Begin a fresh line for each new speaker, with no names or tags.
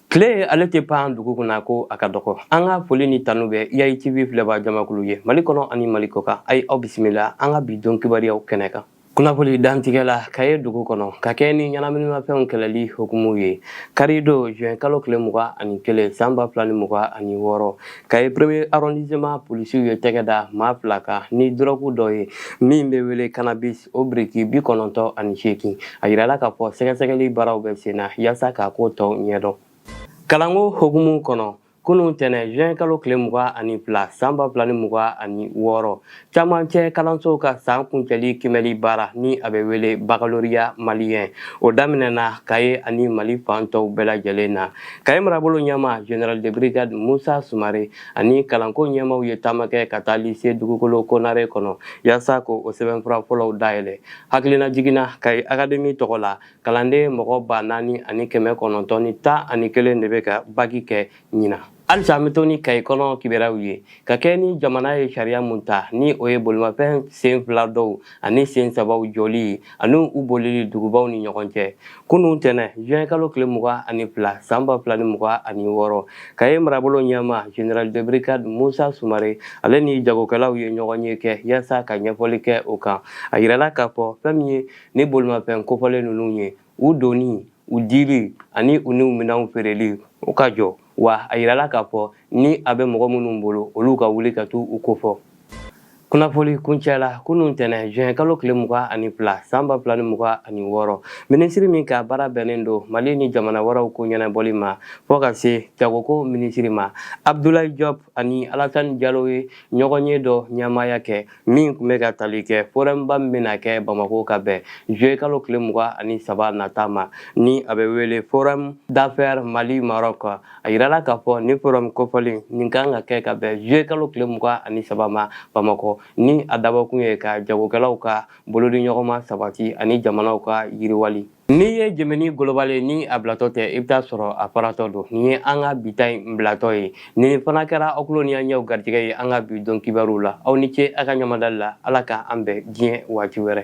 tile ale tɛ pan dugu kunna ko a ka dɔgɔ an ka foli ni tanu bɛ yayi tv filɛbaa jamakulu ye mali kɔnɔ ani mali kɔkan a ye aw bisimila an ka bi don kibaruyaw kɛnɛ kan kunnafoni dantigɛ la kaye dugu kɔnɔ ka kɛ ni ɲɛnaminimafɛnw kɛlɛli hukumu ye karidon juin kalo tile mugan ani kelen san ba fila ni mugan ani wɔɔrɔ kaye premier arrondissement polisiw ye tɛgɛ da maa fila kan ni dɔrɔgu dɔ ye min bɛ wele cannabis o biriki bi kɔnɔntɔn ani seegin a yirala k'a fɔ sɛgɛsɛgɛli baaraw bɛ sen na yaasa k'a ko tɔw ɲɛdɔn kalanko hukumu kɔnɔ kunun tɛnɛ juin kalo tile mugan ani fila san ba fila ni mugan ani wɔɔrɔ cɛmancɛ kalanso ka san kuncɛli kiimɛli baara ni a bɛ wele baccalauréat malien o daminɛna kaye ani mali fan tɔw bɛɛ lajɛlen na kaye marabolo ɲɛmaa général de brigade musa sumare ani kalanko ɲɛmaw ye taama kɛ ka taa lise dugukolo konare kɔnɔ yaasa ka o sɛbɛnfura fɔlɔw dayɛlɛ hakilinajigin na kayi akademi tɔgɔ la kalanden mɔgɔ ba naani ani kɛmɛ kɔnɔntɔn ni tan ani kelen de bɛ ka baki kɛ ɲinan halisa an bɛ to ni kayi kɔnɔ kibaruyaw ye ka kɛ ni jamana ye sariya mun ta ni o ye bolimafɛn sen fila dɔw ani sen saba jɔli ani u bolili dugubaw ni ɲɔgɔn cɛ kunun tɛnɛ juin kalo tile mugan ani fila san ba fila ni mugan ani wɔɔrɔ kaye marabolo ɲɛmaa général de brigade musa sumare ale ni jagokɛlaw ye ɲɔgɔnye kɛ yaasa ka ɲɛfɔli kɛ o kan a yirala k'a fɔ fɛn min ye ni bolimafɛn kofɔlen ninnu ye u donni u dili ani u n'u minɛnw feereli o ka jɔ wa a yirala k'a fɔ ni a bɛ mɔgɔ minnu bolo olu ka wuli ka t'u kofɔ kunnafoni kuncɛ la kunun tɛnɛ juin kalo tile mugan ani fila san ba fila ni mugan ani wɔɔrɔ minisiri min ka baara bɛnnen don mali ni jamana wɛrɛw ko ɲɛnabɔli ma fɔ ka se jagoko minisiri ma abdulayi jɔp ani alasani jalo ye ɲɔgɔnye dɔ ɲɛmaaya kɛ min tun bɛ ka tali kɛ forumba min bɛna kɛ bamakɔ ka bɛn juillet kalo tile mugan ani saba nata ma ni a bɛ wele forum d'affaires mali maroc a yirala k'a fɔ ni forum kofɔlen nin ka kan ka kɛ ka bɛn juillet kalo tile mugan ani saba ma bamakɔ ni a dabɔkun ye ka jagokɛlaw ka bolodiɲɔgɔnma sabati ani jamanaw ka yiriwali N'i ye jɛmɛ golobali ye ni a bilatɔ tɛ i bɛ t'a sɔrɔ a faratɔ don nin ye an ka bi ta in bilatɔ ye nin fana kɛra aw tulo ni aw ɲɛw garijɛgɛ ye an ka bi don kibaruw la aw ni ce aw ka ɲɛmadali la ala k'an bɛn diɲɛ waati wɛrɛ